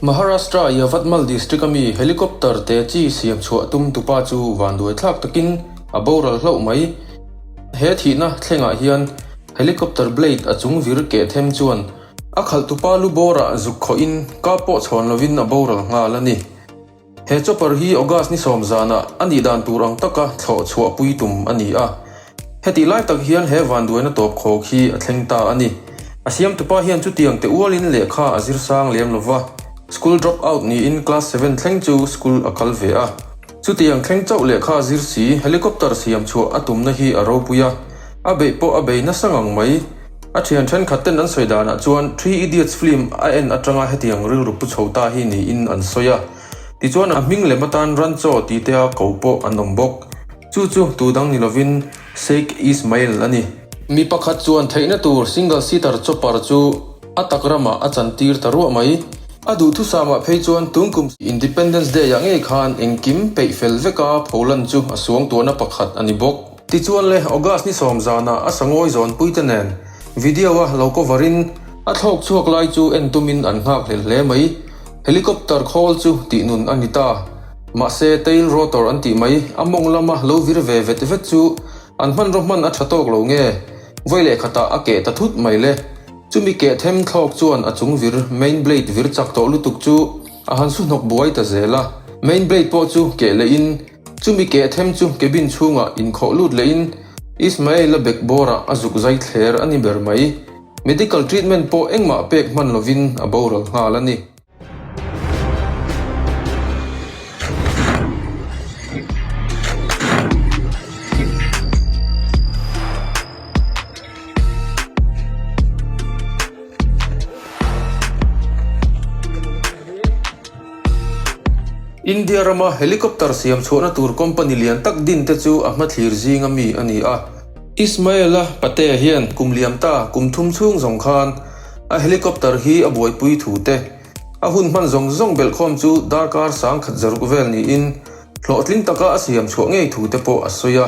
Maharashtra Yavatmal District ami Helicopter te chi siam chhuah tum tupa chu van duai thlak takin a boral hlauh mai. He thihna thlengah hian Helicopter blade a chung vir keh them chuan a khalh tupa lu bawrah zuk khawhin kap pawh chhawn lovin a boral nghal a ni. He chopper hi August ni sawm zanah a nih dan tur ang taka thlawh chhuah pui tum a ni a. Heti lai tak hian he vanduaina tawp khawk hi a thleng ta a ni. A siamtupa hian chutiang te ualin lehkha a zir sang lem lo va, school drop out niin class seven thleng chu school a kal ve a. Chutiang thleng chauh lehkha zir si, helicopter siam chhuah a tumna hi a ropui a, a beih pawh a bei nasa ngang mai. A thian thenkhat ten an sawi dan ah chuan Three Idiots film a en atanga heti ang rilru pu chho ta hi niin an sawi a. Tichuan a hming lem atan Rancho ti te a ko pawh an awm bawk. Chu chu tu dang ni lovin Sheikh Ismail a ni. Mi pakhat chuan theihna tur single seater chopper chu a tak ramah a chantir ta ruah mai. A duhthusam ah phei chuan tung kum siam Independence Day ah ngei khan engkim peih fel vek a pholan chu a suang tuahna pakhat a ni bawk. Tichuan le August ni sawm zanah a sangawi zawnpuite nen video-a lo cover in a thlawk chhuak lai chu en tumin an nghak hlel hle mai. Helicopter khawl chu tih nun a ni ta. Mahse tail rotor an tih mai a mawng lama lo vir ve vet vet chu an hmanraw hman a tha tawk lo nge. Vawi leh khatah a keh ta thut mai le. Chumi keh them thlawk chuan a chung vir main blade vir chak tawh lutuk chu a han su hnawk buai ta zel a. Main blade pawh chu keh leh in. Chumi keh them chu cabin chhungah inkhawh lut lehin Ismail-a bag bawrah a zuk zai thler a ni ber mai. Medical treatment pawh engmah pek hman lovin a boral nghal a ni. India rama helicopter siam chhuahna tur company lian tak din te chu a hmathlir zinga mi a ni a. Ismail-a pate hian kum liam ta kum thum chhung zawng khan a helicopter hi a buaipui thu te, a hun hman zawng zawng belhkhawm chu darkar sangkhat zaruk vel niin hlawhtling taka a siam chhuah ngei thu te pawh a sawi a.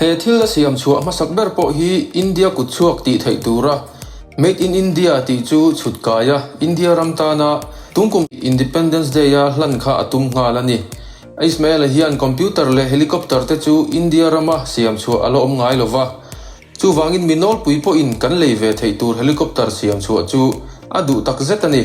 He thil a siam chhuah hmasak ber pawh hi India kut chhuak tih theih tura Made in India tih chu chhut kai a, India ram tana tungkum Independence Day a hlan kha a tum nghal a ni. A Ismail-a hian computer leh helicopter te chu India rama siam chhuah a la awm ngai lova. Chuvangin mi nawlpui pawhin kan lei ve theih tur helicopter siam chhuah chu a duh takzet a ni.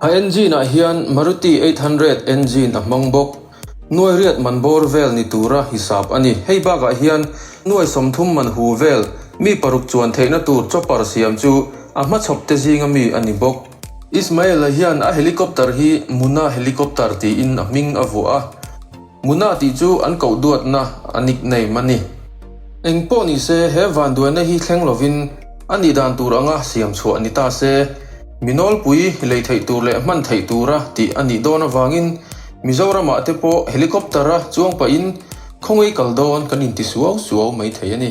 A engine ah hian Maruti eight hundred engine a hmang bawk. Nuairiat man bawr vel ni tura hisap a ni. Hei bakah hian nuai sawmthum man hu vel, mi paruk chuan theihna tur chopper siam chu a hmachhawp te zinga mi a ni bawk. Ismail-a hian a helicopter hi Muna helicopter tiin a hming a vuah a. Muna tih chu an koh duatna a nickname a ni. Eng pawh ni se, he vanduaina hi thleng lovin a nih dan tur anga siam chhuah ni ta se, mi nawlpui lei theih tur leh hman theih tura tih a nih dawn avangin Mizoramah te pawh helicopter-a chuang pahin khawngaei kal dawn kan inti suau suau mai thei a ni.